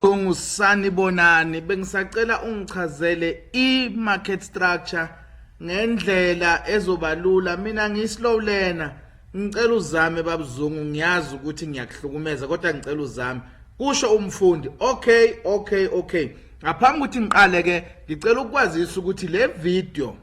Ungusanibonani bengisacela ungichazele i-market structure ngendlela ezobalula mina ngiyi-slow learner ngicela uzame babuzungu ngiyazi ukuthi ngiyakuhlukumeza kodwa ngicela uzame kusho umfundi okay okay okay ngaphambi ukuthi ngiqale ke ngicela ukwazisa ukuthi le video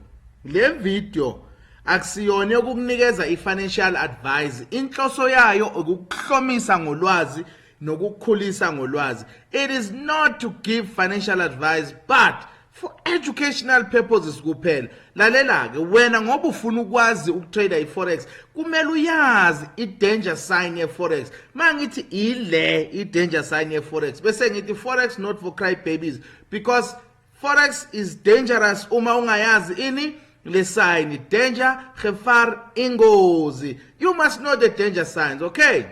le video akusiyona yokukunikeza i-financial advice inhloso yayo ukukuhlomisa ngolwazi nokukhulisa ngolwazi it is not to give financial advice but for educational purposes kuphela lalela ke wena ngoba ufuna ukwazi ukutrader iforex kumele uyazi idanger sign yeforex mangithi ile idanger sign yeforex bese ngithi forex not for cry babies because forex is dangerous uma ungayazi ini le sign danger gevaar ingozi you must know the danger signs okay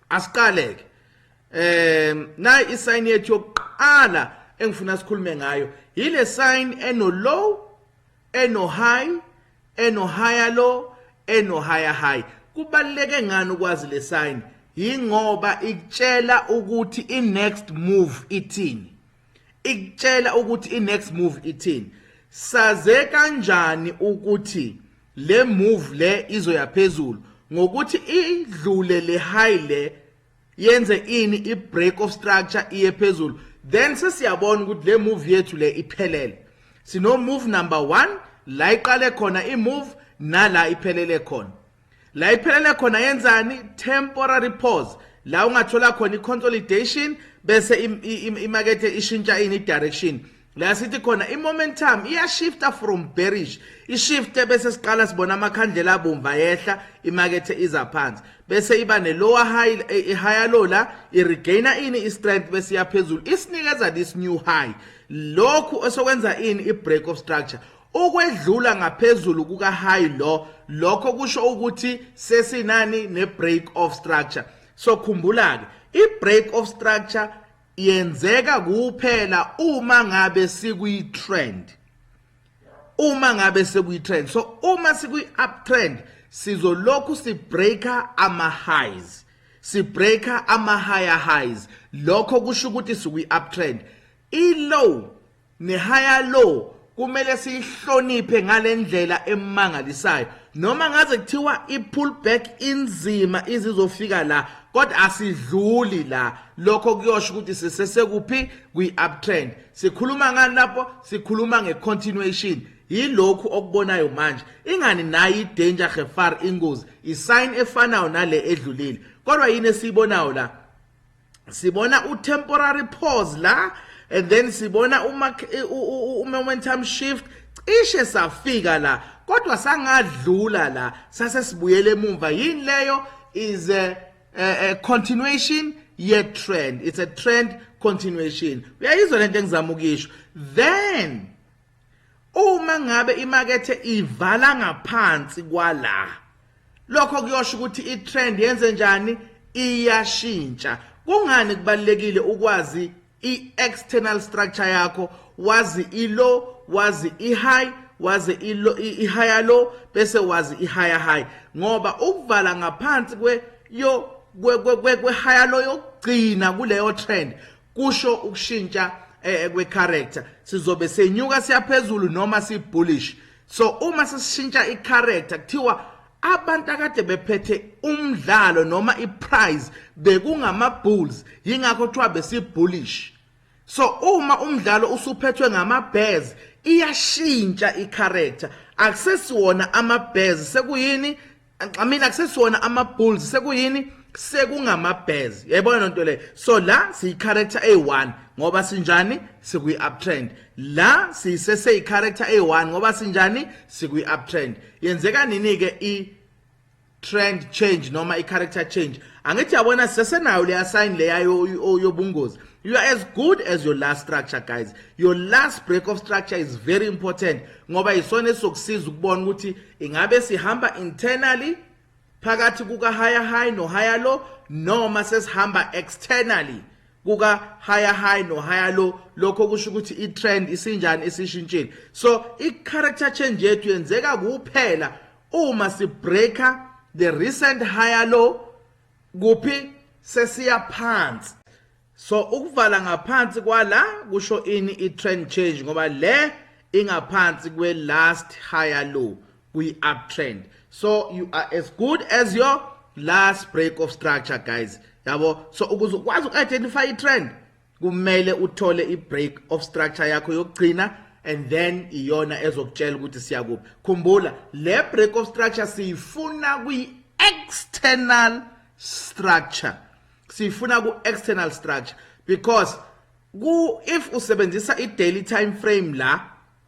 asiqaleke um nayi i-sign yethu yokuqala engifuna sikhulume ngayo yile sign eno-low eno-high eno-higher low eno-higher high kubaluleke ngani ukwazi le sign yingoba ikutshela ukuthi i-next move ithini ikutshela ukuthi inext move ithini saze kanjani ukuthi le move le izoya phezulu ngokuthi idlule le high le yenze ini i break of structure iye phezulu then sesiyabona ukuthi le move yethu le iphelele sino move number 1 la iqale khona i move nala iphelele khona la iphelele khona yenzani temporary pause la ungathola khona i-consolidation bese imakethe ishintsha ini direction la sithi khona i-momentum iyashifta from bearish ishifte bese siqala sibona amakhandlela abomvu ayehla imakethe iza phansi bese iba ne-lower high eh, i-higher low la i-regaina ini i-strength bese iyaphezulu isinikeza this new high lokhu esokwenza ini i-break of structure Ukwedlula ngaphezulu kuka-high lo lokho kusho ukuthi sesinani ne-break of structure. So khumbula-ke i-break of structure yenzeka kuphela uma ngabe sikuyi-trend uma ngabe sekuyi-trend so uma sikuyi-uptrend sizolokhu sibreaker ama-highs sibreaker ama-higher highs lokho kusho ukuthi sikwi-uptrend i-low Nehaya lo kumele siyihloniphe ngalendlela emangalisayo noma ngaze kuthiwa i-pullback inzima izizofika la kodwa asidluli la lokho kuyosho ukuthi sisesekuphi kwi-uptrend sikhuluma ngani lapho sikhuluma nge-continuation yilokhu okubonayo manje ingani nayo i-danger gefar ingozi isayini efanayo nale edlulile kodwa yini esiyibonayo la sibona u-temporary pause la and then sibona u-momentum shift cishe safika la kodwa sangadlula la sase sibuyele emumva yini leyo is a, a, a continuation ye trend it's a trend continuation uyayizwa lento engizama ukisho then Uma ngabe imakethe ivala ngaphansi kwala, lokho kuyosho ukuthi i-trend yenze njani? Iyashintsha. Kungani kubalulekile ukwazi i-external structure yakho, wazi i-low, wazi i-high, wazi i-higher low bese wazi i-higher high ngoba ukuvala ngaphansi kwe-higher low yokugcina kuleyo trend kusho ukushintsha eh, eh, kwecharacter sizobe senyuka siyaphezulu noma sibullish so uma sishintsha icharacter kuthiwa abantu akade bephethe umdlalo noma iprize bekungama bulls yingakho kuthiwa besibullish so uma umdlalo usuphethwe ngama bears iyashintsha icharacter akusesiwona ama bears sekuyini Mina kusesona ama Bulls sekuyini sekungama Bears. Yayibona lento le. So la siyi character A1 ngoba sinjani sikuyi uptrend. La sisese i character A1 ngoba sinjani sikuyi uptrend. Yenzeka nini ke i trend change noma i character change. Angithi yabona sisesenayo le assign le yayo yobungozi. You are as good as your last structure guys. Your last break of structure is very important ngoba isona esokusiza ukubona ukuthi Ingabe sihamba internally phakathi kuka higher high no higher low noma sesihamba externally kuka higher high no higher low lokho kusho ukuthi i trend isinjani isishintshile so i character change yethu yenzeka kuphela uma si breaker the recent higher low kuphi sesiya phansi So ukuvala ngaphansi kwala kusho ini i-trend change ngoba le ingaphansi kwe-last higher low kwi-uptrend so you are as good as your last break of structure guys yabo so ukuze ukwazi uku-identify i-trend kumele uthole i-break of structure yakho yokugcina and then iyona ezokutshela ukuthi siya kuphi khumbula le break of structure siyifuna kwi-external structure siyifuna ku external structure because ku if usebenzisa i daily time frame la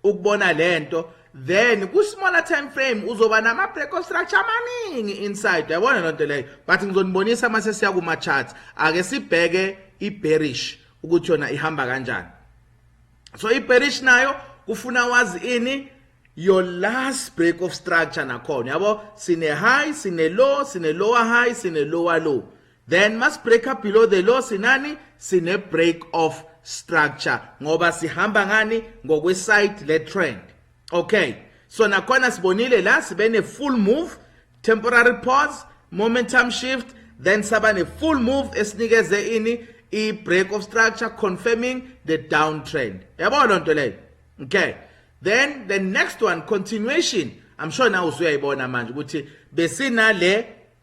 ukubona lento then ku smaller time frame uzoba nama break of structure amaningi inside yabona lonto leyo but ngizonibonisa mase siya kuma charts ake sibheke i bearish ukuthi yona ihamba kanjani so iparish nayo kufuna wazi ini your last break of structure nakhona yabo sine high sine low sine lower high sine lower low then must break up below the low sinani sine break of structure ngoba sihamba ngani ngokwe side le trend okay so nakhona sibonile la sibe ne full move temporary pause momentum shift then saba ne full move esinikeze ini i break of structure confirming the downtrend yabo lonto leyo okay then the next one continuation i'm sure now usuyayibona manje ukuthi besinale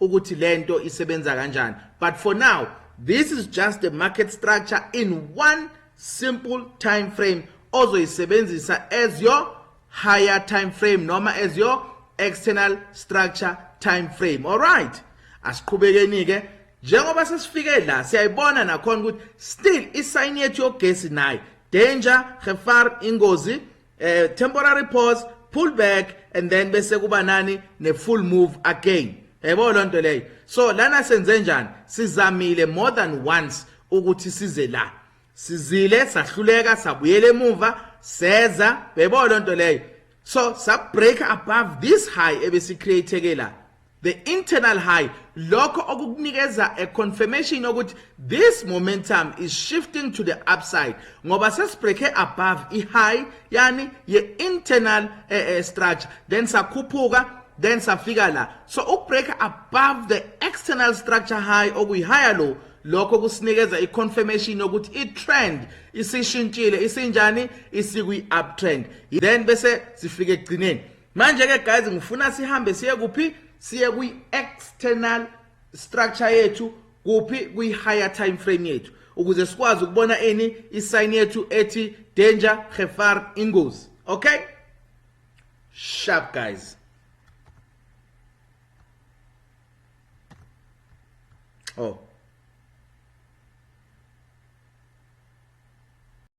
ukuthi lento isebenza kanjani but for now this is just a market structure in one simple time frame ozoyisebenzisa as your higher time frame noma as your external structure time frame all right asiqhubekeni ke njengoba sesifike la siyayibona nakhona ukuthi still isayini yethu yogesi nayo danger gefar ingozi eh temporary pause pull back and then bese kuba nani ne full move again yebo lonto leyo so lana senze njani sizamile more than once ukuthi size la sizile sahluleka sabuyela emuva seza yebo lonto leyo so sub break above this high ebesi create ke la the internal high lokho okukunikeza a confirmation yokuthi this momentum is shifting to the upside ngoba sesibreake above i-high yani ye-internal eh, eh, structure then sakhuphuka then safika la so ukubreak above the external structure high okuyi-higher low lokho kusinikeza i-confirmation yokuthi i-trend isishintshile isinjani isikwi-uptrend then bese sifike ekugcineni manje ke guys ngifuna sihambe siye kuphi siye kwi external structure yethu kuphi kwi higher time frame yethu ukuze sikwazi ukubona ini i sign yethu ethi danger gefar ingozi okay sharp guys oh